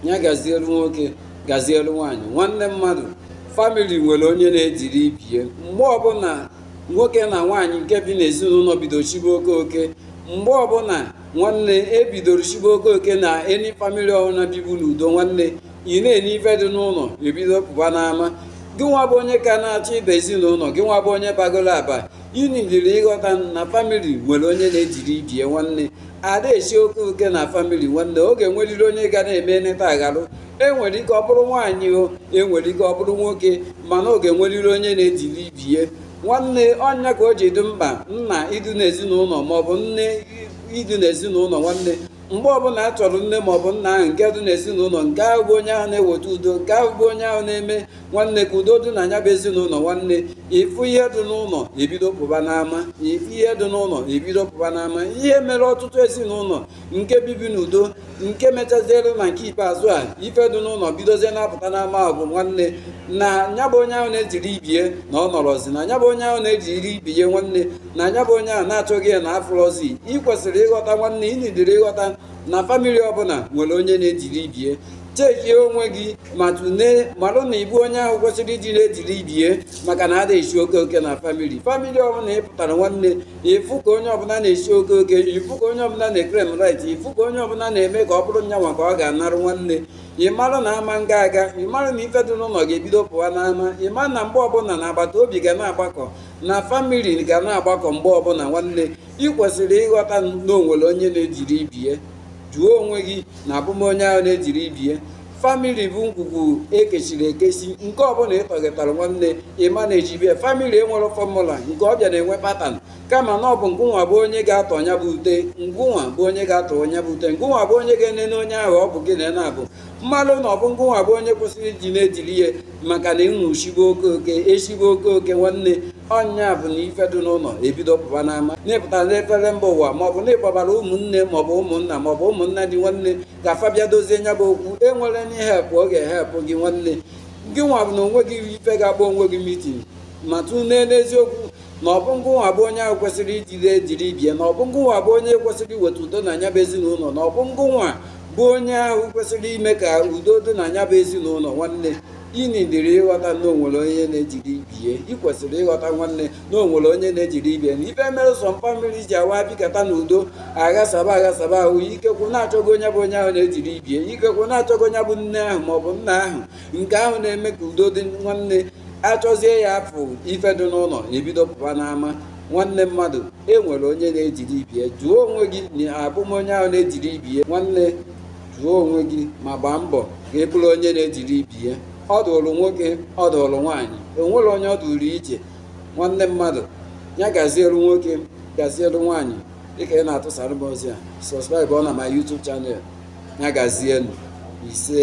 ya gazielu nwoke gazielu nwaanyị nwanne mmadụ famili nwere onye na-ediri ibie mgbe ọbụla nwoke na nwaanyị nke bi n'ezinụlọ bido shibe oke oke mgbe ọbụla nwanne e bidoro shibe oke oke na any famili ọbụla bibu n'udo nwanne ị na-ene ife dị n'ụlọ ebido pụba n'ama gị nwa bụ onye ka na-achọ ịba ezinụlọ gị nwa bụ onye bagoro aba Ị needịrị ịghọta na famili nwere onye na-ediri ibie nwanne ada esi oke oke na famili nwanne ọ ga-enweriri onye ga na-eme neta agharụ o nwere ike ọ bụrụ nwaanyị o nwere ike ọ bụrụ nwoke mana ọ ga-enweriri onye na-ediri ibie nwanne ọ nya ka o ji dị mkpa nna ịdị n'ezinụlọ maọbụ nne ịdị n'ezinụlọ nwanne mgbe ọbụla a chọrọ nne maọbụ nna ahụ nke dị n'ezinụlọ nke ahụ bụ onye ahụ na-eweta udo nke ahụ bụ onye ahụ na-eme nwanne ka udo dị na nya bụ ezinụlọ nwanne ị fụ ihe dị n'ụlọ ebido pụba n'ama ị fụ ihe dị n'ụlọ ebido pụba n'ama ihe mere ọtụtụ ezinụlọ nke bibu n'udo nke mechaziere na nke ikpeazụ a ife dị n'ụlọ bidozie na-apụta n'ama bụ nwanne na nya bụ onye ahụ na-ediri ibie na ọ nọrọzi na nya bụ onye ahụ na-ediri ibie nwanne na nya bụ onye ahụ na a chọọ ya na afụrọzi ị kwesịrị ịghọta nwanne ị needịrị ịghọta na famili ọbụla nwere onye na-ediri ibie checkie onwe gị ma tụlee marụ na ị bụ onye ahụ kwesịrị ịdị na-ediri ibie maka na ada esi oke oke na famili famili ọbụla ị pụtara nwanne ị fụ ka onye ọbụla na-esi oke oke ị fụ ka onye ọbụla na-eclaim right ị fụ ka onye ọbụla na-eme ka ọ bụrụ nya nwa ka ọ ga-anarụ nwanne ị mara na ama nga aga ị mara na ife dị n'ụlọ ga-ebido pụwa n'ama ị mara na mgbe ọbụla na agbata obi ga na-agbakọ na famili ga na-agbakọ mgbe ọbụla nwanne ị kwesịrị ịghọta na o nwere onye na-ediri ibie jụọ onwe gị na abụ m onye ahụ na-ediri ibie famili bụ ngwugwu e kechiri ekechi nke ọbụla ị tọghetara nwanne ị managebie famili enwerọ formula nke ọ bịa na-enwe pattern kama na ọ bụ ngụnwa bụ onye ga-atọ nya bụ ute ngụnwa bụ onye ga-atọ nya bụ ute ngụnwa bụ onye ga-enene onye ahụ ọ bụ gị na nya bụ malụ na ọ bụ ngụnwa bụ onye kwesịrị ịdị na-ediri ihe maka na unu shigbo oke oke eshigbo oke oke nwanne ọ nya bụ na ife dị n'ụlọ ebido pụba n'ama n'ịpụta n'efere mba ụwa maọbụ na ị kpọbara ụmụnne maọbụ ụmụnna maọbụ ụmụnna di nwanne ka fa bịa dozie nya bụ okwu enwerọ any help ọ ga-ehelp gị nwanne gị nwa bụ na onwe gị ife ga-akpọ onwe gị mitin ma tụlee n'eziokwu na ọ bụ ngụnwa bụ onye ahụ kwesịrị ịdị na-ediri ibie na ọ bụ ngụnwa bụ onye kwesịrị iweta udo na nya bụ ezinụlọ na ọ bụ ngụnwa bụ onye ahụ kwesịrị ime ka udo dị na nya bụ ezinụlọ nwanne ị needịrị ịghọta na o nwere onye na-ediri ibie ị kwesịrị ịghọta nwanne na o nwere onye na-ediri ibie na ife mere some famili ji awa bikata n'udo aghasaba aghasaba ahụ ikekwe na a chọọ onye bụ onye ahụ na-ediri ibie ikekwe na a chọọ onye bụ nne ahụ maọbụ nna ahụ nke ahụ na-eme ka udo dị nwanne achọzie ya afụ ife dị n'ụlọ ebido pụba n'ama nwanne mmadụ e nwere onye na-ejide ibie jụọ onwe gị na abụ m onye ahụ na-ejide ibie nwanne jụọ onwe gị ma gbaa mbọ ka ị bụrụ onye na-ejide ibie ọ dụrụ nwoke ọ dụrụ nwaanyị o nwere onye ọ dụrụ iche nwanne mmadụ ya gazielu nwoke gazielu nwaanyị dịka ị na-atụsara m ozi a subscribe ọ na my YouTube channel ya gazienụ ise